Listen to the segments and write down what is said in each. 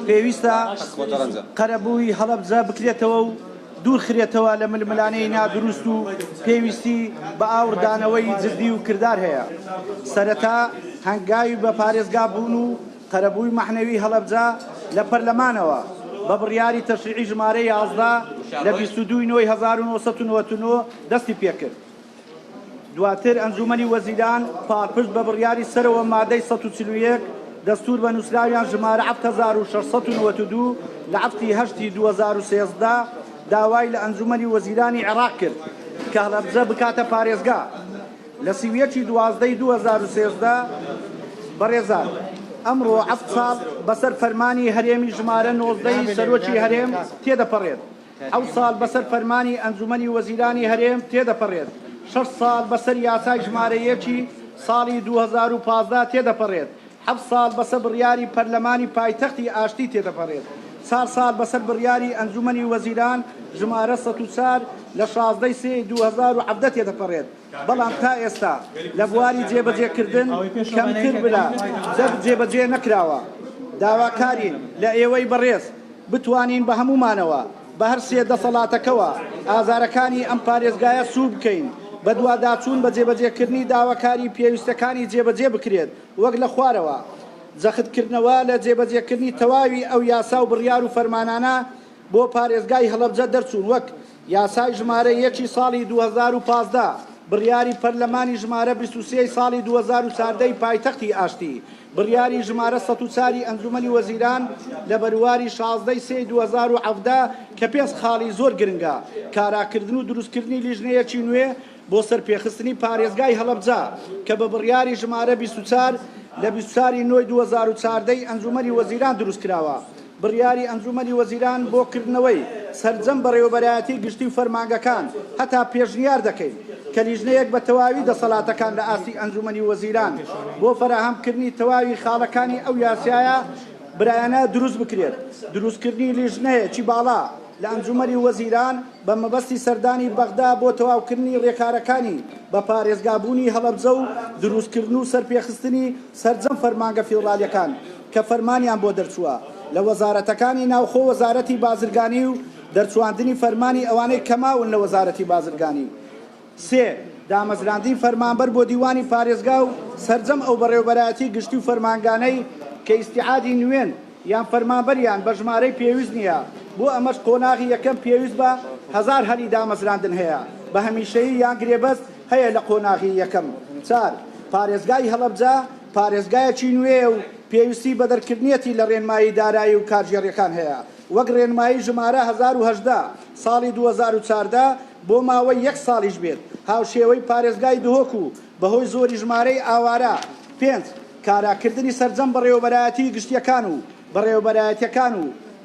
پێویستە قەرەبووی هەڵەبجە بکرێتەوە و دوورخرێتەوە لە ململانێی نادروست و پێویستی بە ئاوڕدانەوەی جدی و کردار هەیە سەرەتا هەنگاوی بە پارێزگا بوون و قەرەبووی مەحنەوی هەڵەبجە لە پەرلەمانەوە بە بڕیاری تەشریعی ژمارە یازدە لە بیست و دوو ی نۆ ی هەزار و نۆ سەد و نەوەد و نۆ دەستی پێکرد. دواتر ئەنجوومەنی وەزیران پاڵپشت بە بڕیاری سەرەوە مادەی 141 دەستور بە نووسراویان ژمارە 7692 لە هەفتی هەشتی 2013 داوای لە ئەنجوومەنی وەزیرانی عێراق کرد کە هەڵەبجە بکاتە پارێزگا لە سی و یەکی دوازدەی 2013 بەڕێزان ئەمڕۆ ئەفت ساڵ بەسەر فەرمانی هەرێمی ژمارە نۆزدەی سەرۆکی هەرێم تێدەپەڕێت حەوت ساڵ بەسەر فەرمانی ئەنجومەنی وەزیرانی هەرێم تێدەپەڕێت، شەش ساڵ بەسەر یاسای ژمارە یەکی ساڵی دوو هەزار و پازدە تێدەپەڕێت، حەفت ساڵ بەسە بڕیاری پەرلەمانی پایتەختی ئاشتی تێدەپەڕێت، چار ساڵ بەسەر بڕیاری ئەنجومەنی وەزیران ژمارە سەد و چار لە شازدە ی سێ ی دوو هەزار و حەڤدە تێدەپەڕێت. بەڵام تا ئێستا لە بواری جێبەجێکردن کەمتر لە دە جێبەجێ نەکراوە، داواکارین لە ئێوەی بەڕێز بتوانین بە هەموومانەوە بە هەر سێ دەسەڵاتەکەوە ئازارەکانی ئەم پارێزگایە سوور بکەین بەدواداچوون بە جێبەجێکردنی داواکاری پێویستەکانی جێبەجێ بکرێت وەک لە خوارەوە جەختکردنەوە لە جێبەجێکردنی تەواوی ئەو یاسا و بڕیار و فەرمانانە بۆ پارێزگای هەڵەبجە دەرچوون وەک یاسای ژمارە یەکی ساڵی دوو هەزار و پازدە، بڕیاری پەرلەمانی ژمارە بیست و سێ ی ساڵی دوو هەزار و چواردە ی پایتەختی ئاشتی، بڕیاری ژمارە سەد و چوار ی ئەنجوومەنی وەزیران لە بەرواری شازدە ی سێ ی دوو هەزار و حەڤدە کە پێنج خاڵی زۆر گرنگە، کاراکردن و دروستکردنی لیژنەیەکی نوێ، بۆ سەرپێخستنی پارێزگای هەڵەبجە کە بە بڕیاری ژمارە بیست و چوار لە بیست و چوار ی نۆی دوو هەزار و چواردە ی ئەنجوومەنی وەزیران دروست کراوە. بڕیاری ئەنجوومەنی وەزیران بۆ کردنەوەی سەرجەم بەڕێوەبەرایەتی گشتی و فەرمانگەکان هەتا پێشنیار دەکەین کە لیژنەیەک بە تەواوی دەسەڵاتەکان لە ئاستی ئەنجوومەنی وەزیران بۆ فەراهەمکردنی تەواوی خاڵەکانی ئەو یاسایە برایانە دروست بکرێت. دروستکردنی لیژنەیەکی باڵا لە ئەنجوومەنی وەزیران، بە مەبەستی سەردانی بەغدا بۆ تەواوکردنی رێکارەکانی بە پارێزگابوونی هەڵەبجە و دروستکردن و سەرپێخستنی سەرجەم فەرمانگە فیدڕالیەکان کە فەرمانیان بۆ دەرچووە لە وەزارەتەکانی ناوخۆ وەزارەتی بازرگانی و دەرچواندنی فەرمانی ئەوانەی کەماون لە وەزارەتی بازرگانی سێ، دامەزراندنی فەرمانبەر بۆ دیوانی پارێزگا و سەرجەم ئەو بەڕێوەبەرایەتی گشتی و فەرمانگانەی کە ئیستیعادی نوێن یان فەرمانبەریان بە ژمارەی پێویست نییە، بۆ ئەمەش قۆناغی یەکەم پێویست بە هەزار هەلی دامەزراندن هەیە بە هەمیشەیی یان گرێبەست هەیە لە قۆناغی یەکەم. چوار، پارێزگای هەڵەبجە پارێزگایەکی نوێیە و پێویستی بە دەرکردنیەتی لە رێنمایی دارایی و کارگێڕیەکان هەیە وەک رێنمایی ژمارە هەزار و هەژدە ساڵی دوو هەزار و چاردە بۆ ماوەی یەک ساڵیش بێت، هاوشێوەی پارێزگای دهۆک و بەهۆی زۆری ژمارەی ئاوارە، پێنج، کاراکردنی سەرجەم بەڕێوەبەرایەتیی گشتییەکان و بەڕێوەبەرایەتییەکان و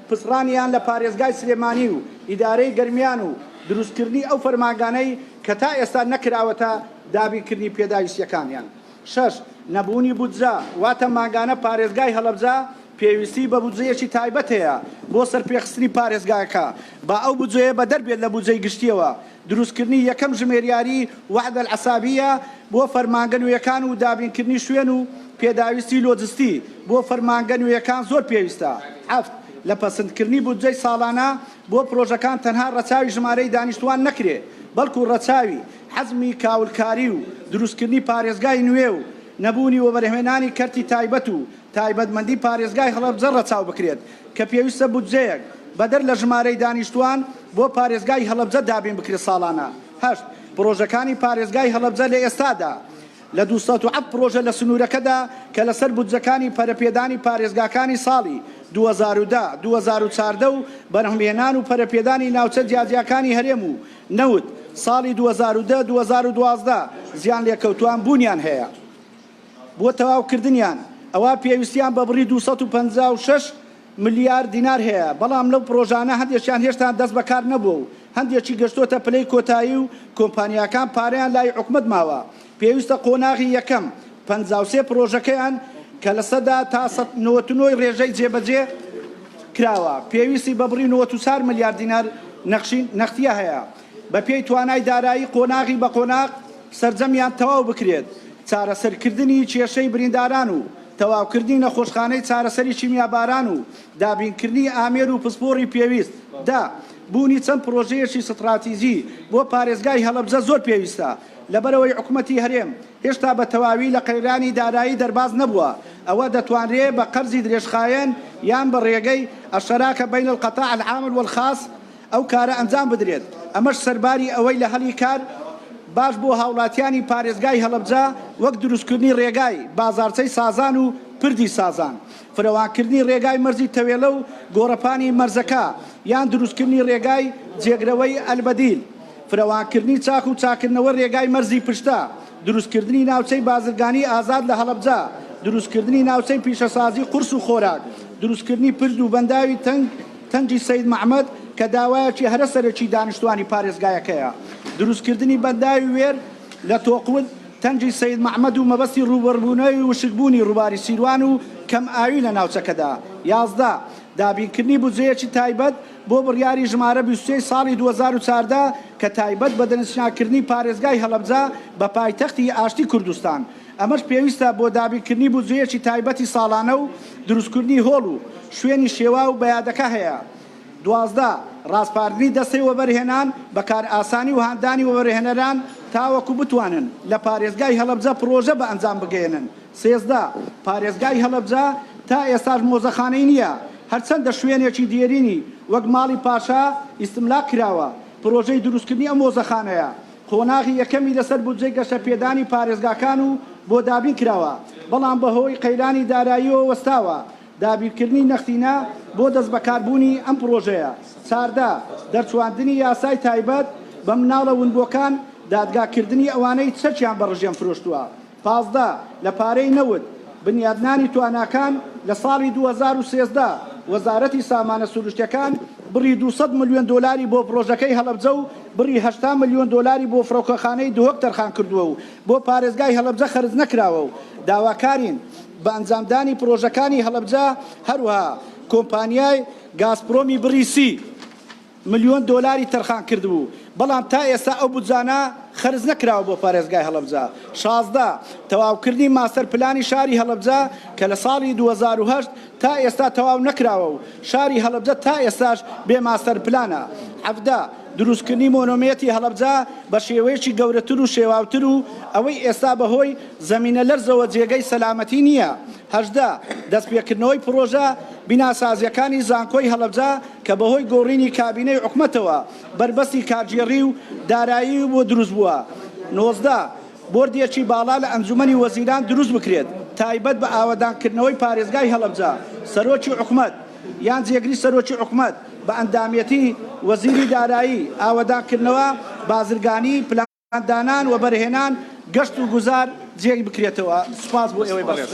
پچڕانیان لە پارێزگای سلێمانی و ئیدارەی گەرمیان و دروستکردنی ئەو فەرمانگانەی کە تا ئێستا نەکراوەتە دابینکردنی پێداویستییەکانیان. شەش، نەبوونی بودجە، واتە مانگانە پارێزگای هەڵەبجە پێویستی بە بودجەیەکی تایبەت هەیە بۆ سەرپێخستنی پارێزگاکە، با ئەو بودجەیە بەدەر بێت لە بودجەی گشتییەوە، دروستکردنی یەکەم ژمێریاری وحدە الحسابییە بۆ فەرمانگە نوێیەکان و دابینکردنی شوێن و پێداویستی لۆجستی بۆ فەرمانگە نوێیەکان زۆر پێویستە. حەفت، لە پەسندکردنی بودجەی ساڵانە بۆ پرۆژەکان تەنها ڕەچاوی ژمارەی دانیشتووان نەکرێ، بەڵکو ڕەچاوی. حەجمی کاولکاری و دروستکردنی پارێزگای نوێ و نەبوونی وەبەرهێنانی کەرتی تایبەت و تایبەتمەندی پارێزگای هەڵەبجە ڕەچاو بکرێت کە پێویستە بودجەیەک بەدەر لە ژمارەی دانیشتووان بۆ پارێزگای هەڵەبجە دابین بکرێت ساڵانە هەشت پڕۆژەکانی پارێزگای هەڵەبجە لە ئێستادا لە دوو سەد و حەفت پڕۆژە لە سنوورەکەدا کە لەسەر بودجەکانی پەرەپێدانی پارێزگاکانی ساڵی دوو هەزار و دە، دوو هەزار و چواردە و بەرهەمهێنان و پەرەپێدانی ناوچە جیاجیاکانی هەرێم و نەوت، ساڵی دوو هەزار و دە، دوو هەزار و دوازدە زیانلێکەوتووان بوونیان هەیە، بۆ تەواوکردنیان ئەوا پێویستیان بە بڕی دوو سەد و پەنجا و شەش ملیار دینار هەیە، بەڵام لەو پڕۆژانە هەندێکیان هێشتا دەست بەکار نەبووە و هەندێکی گەشتۆتە پلەی کۆتایی و کۆمپانیاکان پارەیان لای حکومەت ماوە، پێویستە قۆناغی یەکەم پەنجا و سێ پرۆژەکەیان کە لە سەدا تا سەد نەوەت و نۆی رێژەی جێبەجێ کراوە پێویستی بە بڕی نەوەت و چار ملیار دینار نەخشی نەختییە هەیە بە پێی توانای دارایی قۆناغی بە قۆناغ سەرجەمیان تەواو بکرێت چارەسەرکردنی کێشەی برینداران و تەواوکردنی نەخۆشخانەی چارەسەری کیمیاباران و دابینکردنی ئامێر و پسپۆڕی پێویست دە بوونی چەند پرۆژەیەکی ستڕاتیجی بۆ پارێزگای هەڵەبجە زۆر پێویستە. لەبەرئەوەی حکومەتی هەرێم هێشتا بە تەواوی لە قەیرانی دارایی دەرباز نەبووە، ئەوە دەتوانرێ بە قەرزی درێژخایەن یان بە ڕێگەی، الشراکە بین القطاع العام والخاص، ئەو کارە ئەنجام بدرێت، ئەمەش سەرباری ئەوەی لە هەلی کار باش بۆ هاوڵاتیانی پارێزگای هەڵەبجە وەک دروستکردنی ڕێگای بازاڕچەی سازان و پردی سازان، فرەوانکردنی ڕێگای مەرزی تەوێلە و گۆڕەپانی مەرزەکە، یان دروستکردنی ڕێگای جێگرەوەی البدیل. فراوانکردنی چاخ و چاککردنەوەی رێگای مەرزی پشتە، دروستکردنی ناوچەی بازرگانیی ئازاد لە هەڵەبجە، دروستکردنی ناوچەی پیشەسازیی قورس و خۆراک، دروستکردنی پرد و بەنداوی تەنگ تەنگی سەید مەحمەد کە داوایەکی هەرە سەرەکی دانیشتوانی پارێزگایەکەیە، دروستکردنی بەنداوی وێر لە تۆقود تەنگی سەید مەحمەد و مەبەستی رووبەڕبوونەوەی وشکبوونی رووباری سیروان و کەمئاوی لە ناوچەکەدا. یازدە. دابینکردنی بودجەیەکی تایبەت بۆ بڕیاری ژمارە بیست و سێ ی ساڵی دوو هەزار و چواردە کە تایبەت بە دەستنیشانکردنی پارێزگای هەڵەبجە بە پایتەختی ئاشتی کوردستان، ئەمەش پێویستە بۆ دابینکردنی بودجەیەکی تایبەتی ساڵانە و دروستکردنی هۆڵ و شوێنی شێواو بە یادەکە هەیە دوازدە. ڕاسپاردنی دەستەی وەبەرهێنان بە کارئاسانی و هاندانی وەبەرهێنەران تاوەکو بتوانن لە پارێزگای هەڵەبجە پڕۆژە بە ئەنجام بگەیەنن، سێزدە، پارێزگای هەڵەبجە تا ئێستاش مۆزەخانەی نییە، هەرچەندە شوێنێکی دێرینی وەک ماڵی پاشا ئیستملاک کراوە، پرۆژەی دروستکردنی ئەم مۆزەخانەیە قۆناغی یەکەمی لەسەر بودجەی گەشەپێدانی پارێزگاکان و بۆ دابین کراوە، بەڵام بەهۆی قەیرانی داراییەوە وەستاوە، دابینکردنی نەختینە بۆ دەستبەکاربوونی ئەم پرۆژەیە. چاردە، دەرچواندنی یاسای تایبەت بە مناڵە ونبووەکان، دادگاکردنی ئەوانەی چەکیان بە ڕژێم فرۆشتووە. پازدە، لە پارەی نەوت، بنیادنانی تواناکان، لە ساڵی دوو هەزار و سێزدە وەزارەتی سامانە سروشتیەکان بڕی دوو سەد ملیۆن دۆلاری بۆ پڕۆژەکەی هەڵەبجە و بڕی هەشتا ملیۆن دۆلاری بۆ فڕۆکەخانەی دهۆک تەرخانکردووە و بۆ پارێزگای هەڵەبجە خەرجنەکراوە و داواکارین بە ئەنجامدانی پڕۆژەکانی هەڵەبجە، هەروەها کۆمپانیای گازپرۆمی بڕی سی. ملیۆن دۆلاری تەرخان کردبوو، بەڵام تا ئێستا ئەو بودجانە خەرج نەکراوە بۆ پارێزگای هەڵەبجە. شازدە، تەواوکردنی ماستەر پلانی شاری هەڵەبجە کە لە ساڵی دوو هەزار و هەشت تا ئێستا تەواو نەکراوە و شاری هەڵەبجە تا ئێستاش بێ ماستەر پلانە. حەڤدە، دروستکردنی مۆنۆمیەتی هەڵەبجە بە شێوەیەکی گەورەتر و شێواوتر و ئەوەی ئێستا بە هۆی زەمینەلەرزەوە جێگەی سەلامەتی نییە. هەژدە، دەستپێکردنەوەی پڕۆژە بیناسازییەکانی زانکۆی هەڵەبجە کە بەهۆی گۆڕینی کابینەی حکومەتەوە بەربەستی کارگێڕی و داراییوی بۆ دروست بووە. نۆزدە، بۆردێکی باڵا لە ئەنجومەنی وەزیران دروست بکرێت تایبەت بە ئاوەدانکردنەوەی پارێزگای هەڵەبجە، سەرۆکی حکومەت یان جێگری سەرۆکی حکومەت بە ئەندامێتی، وەزیری دارایی، ئاوەدانکردنەوە، بازرگانی، پلان. دانان، وەبەرهێنان، گەشت و گوزار جێی بکرێتەوە. سوپاس بۆ ئێوەی بەڕێز.